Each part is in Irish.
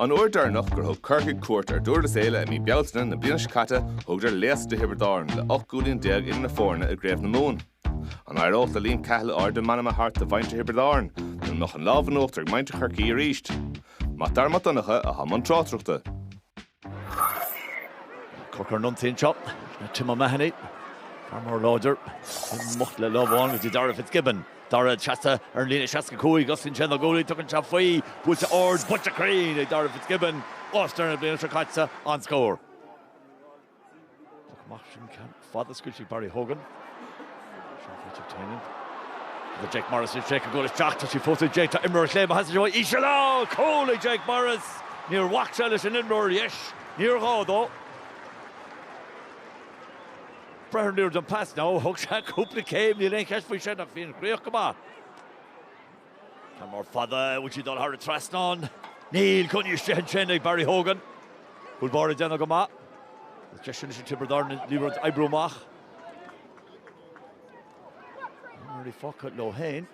An uair deireannach gur thug Corcaigh cuairt ar Dhurlas Éile i mí Bealtaine na bliana seo caite thugadar léasadh do Thiobraid Árann le 18 gcúilín idir na foirne i gCraobh na Mumhan. An éireodh le Liam Cahill ardú meanman a thabhairt do mhuintir Thiobraid Árann nó an mbeadh an lámh in uachtar ag muintir Chorcaí arís? Mac Dara Mac Donncha a bhí i mbun tráchtaireachta. Corcaigh ar an ionsaí anseo le Tim O'Mahony. Fear mór láidir. Amach le lámh amháin go dtí Darragh Fitzgibbon. Darragh seasta ar an líne 65, osclaíonn sé na guaillí, tugann sé faoi. Buailte ard, buailte cruinn ag Darragh Fitzgibbon. All-Star na bliana seo caite, an-scór. Poc amach ansin ceann fada scaoilte ag Barry Hogan. Seán Chaitlimh Toininn. Tá Jake Morris ag féachaint gabháil isteach. Tá sí fós ag Jake. Tá imreoir ar chlé maith deas dó íseal, cúl ag Jake Morris. Níor bhac sé leis an imreoir ar dheis. Níor ghá dó. Breathnaímid ar an pas ná thug sé cúpla céim. Níl aon cheist faoi sin ach bhí an chríoch go maith. Ceann mór fada an bhfuil sí ag dul thar an trasnán. Níl, coinnithe istigh ansin ag Barry Hogan. Cúl báire ag déanamh go maith. Is deis anois ag Tiobraid Árann an liathróid a oibriú amach. Imreoirí fágtha leo féin.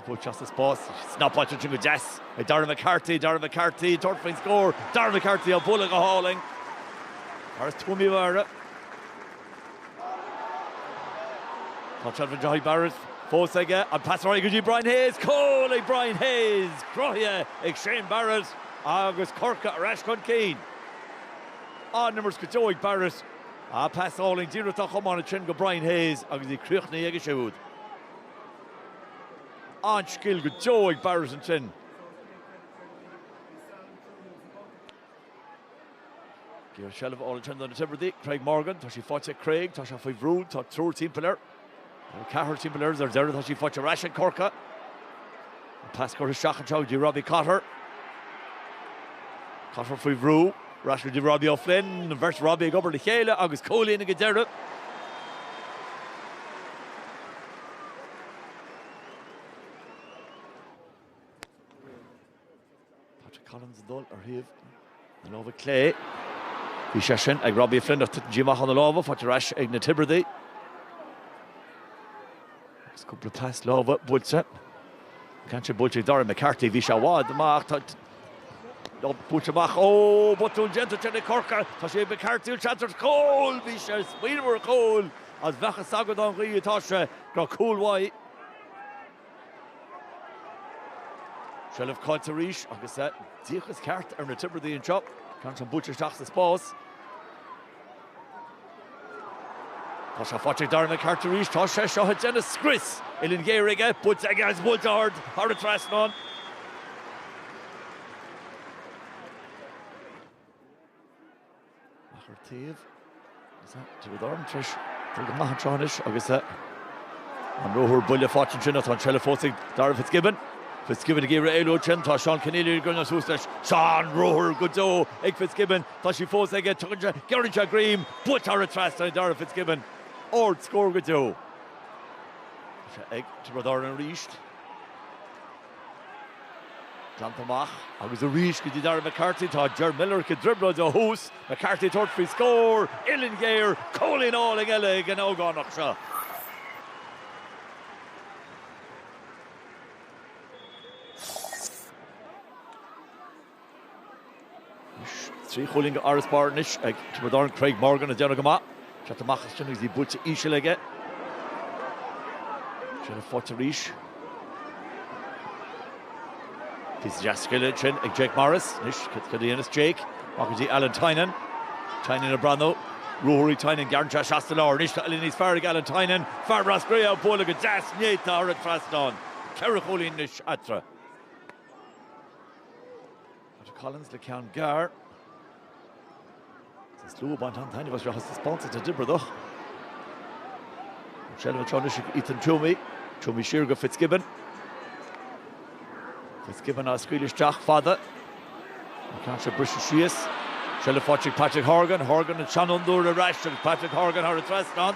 Go leor spás. Snapáilte ansin go deas ag Darren McCarthy, Darren McCarthy, ag tabhairt faoin scór. Darren McCarthy á bhualadh go hálainn. Fear as Tuaim Uí Mheára. Tá seilbh faighte ag Barrett fós aige, an pas ar aghaidh go dtí Brian Hayes, cúl ag Brian Hayes! Cruthaithe ag Shane Barrett agus Corcaigh ar ais chun cinn. An-imirt go deo ag Barrett, pas álainn díreach den chamán ansin go Brian Hayes agus í críochnaithe aige siúd. An-scil go deo ag Barrett ansin. Seilbh álainn ansin do na Tiobradaigh, Craig Morgan, tá sí faighte ag Craig, tá sé faoi bhrú, tá triúr timpeall air, nó ceathrar timpeall air, ar deireadh tá sí faighte ar ais ag Corcaigh. An pas curtha isteach anseo go dtí Robbie Cotter. Cotter faoi bhrú, ar ais go dtí Robbie O'Flynn, an bheirt Robbie ag obair le chéile agus cúilín ag an deireadh. Patrick Collins ag dul ar thaobh na láimhe clé. Bhí sé sin ag Robbie Flynn ach tuiteann sí amach ó na lámha, faighte ar ais ag na Tiobradaigh. Agus cúpla pas láimhe buailte. Ceann acu buailte ag Dara McCarthy, bhí sé i bhfad amach, tá lob buailte amach, ó botún déanta ansin ag Corcaigh, tá sé ag McCarthy an seans ar chúl, bhí sé ag smaoineamh ar chúl, ach beidh sé ag dul dá bhfoil tá sé gur cúl maith. Seilbh caillte arís agus an díocas ceart ar na Tiobradaí anseo. Ceann sin buailte isteach sa spás. Tá seo faighte ag Darragh McCarthy arís. Tá sé seo ag déanamh scrios. Uillinn ghéar aige, buailte aige agus buailte ard thar an trasnán. Ach ar taobh, is ea, tá Tiobraid Árann tar éis dul go maith an tráth anois agus an ruathar buile faighte ansin ach tá an tseilbh fós ag Darragh Fitzgibbon. Fitzgibbon ag iarraidh éalú ansin, tá Seán Kenneally ag coinneáil suas leis. Seán, ruathar go deo ag Fitzgibbon, tá sí fós aige, giorraíonn sé greim buailte thar an trasnán ag Darragh Fitzgibbon. Ard scór go deo. Ag Tiobraid Árann arís. Glanta amach agus arís go dtí Darragh McCarthy. Tá Ger Millerick ag druidim leis. McCarthy ag tabhairt faoi scór. Uillinn ghéar. Cúilín álainn eile ag an ógánach seo. Trí chúilín arís sa bhreis anois ag Tiobraid Árann, Craig Morgan ag déanamh go maith. ag teacht amach as sin agus í buailte íseal aige. Jason Forde arís. Píosa deas scile ansin ag Jake Morris. Anois cad a dhéanfas Jake? Amach go dtí Alan Tynan. Tynan ag breathnú. Ruathar ag Tynan gearrann anseo isteach sa lár. Anois tá uillinn níos fearr ag Alan Tynan. Fear Ros Cré á bualadh go deas, néata thar an trasnán. Ceithre chúilín anois eatarthu. Patrick Collins le ceann gearr. An slua ag baint an-taitneamh as seo seachas spás is na Tiobradaigh. An tseilbh anseo anois ag Ethan Twomey. Twomey siar go Fitzgibbon. Fitzgibbon á scaoileadh isteach fada. An ceann seo briste síos. Seilbh faighte ag Patrick Horgan. Horgan an seanfhondúir ar ais agus Patrick Horgan thar an trasnán.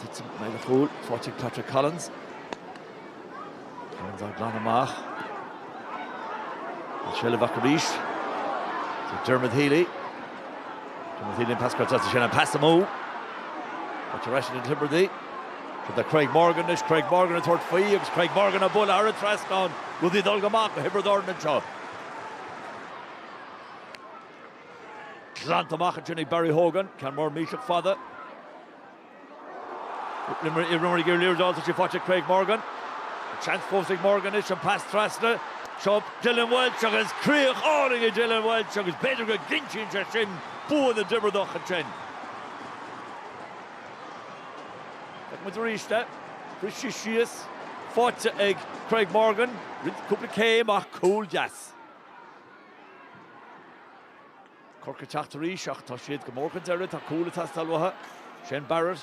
Titeann i mbéal an chúil, faighte ag Patrick Collins. Collins á glanadh amach. Tá seilbh acu arís. Tá Diarmuid Healy. Diarmuid Healy an pas caillte ansin, an pas amú. Tá sé arís ag na Tiobradaí. Tá do Craig Morgan anois, Craig Morgan ag tabhairt faoi agus Craig Morgan á bualadh thar an trasnán. Rudaí ag dul go maith do Thiobraid Árann anseo. Glanta amach ansin ag Barry Hogan, ceann mór mílteach fada. Limerick i rún ag iarraidh liathróid a fháil is tá sí faighte ag Craig Morgan. Seans fós ag Morgan anois an pas trasna. Seo Dylan Walsh agus críoch álainn ag Dylan Walsh agus b'fhéidir go gcinntíonn sé sin bua na dTiobradacha ansin. Feicfimid arís é. Briste síos. Faighte ag Craig Morgan. Rith cúpla céim ach cúl deas. Corcaigh ag teacht arís ach tá siad go mór chun deiridh. Tá cúl ag teastáil uathu. Shane Barrett.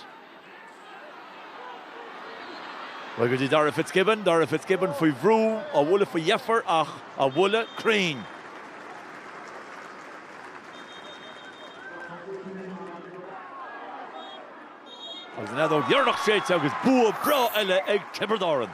Bhuel go dtí Darragh Fitzgibbon. Darragh Fitzgibbon faoi bhrú, á bhualadh faoi dheifir ach á bhualadh cruinn. Agus an fheadóg dheireanach séidte agus bua breá eile ag Tiobraid Árann.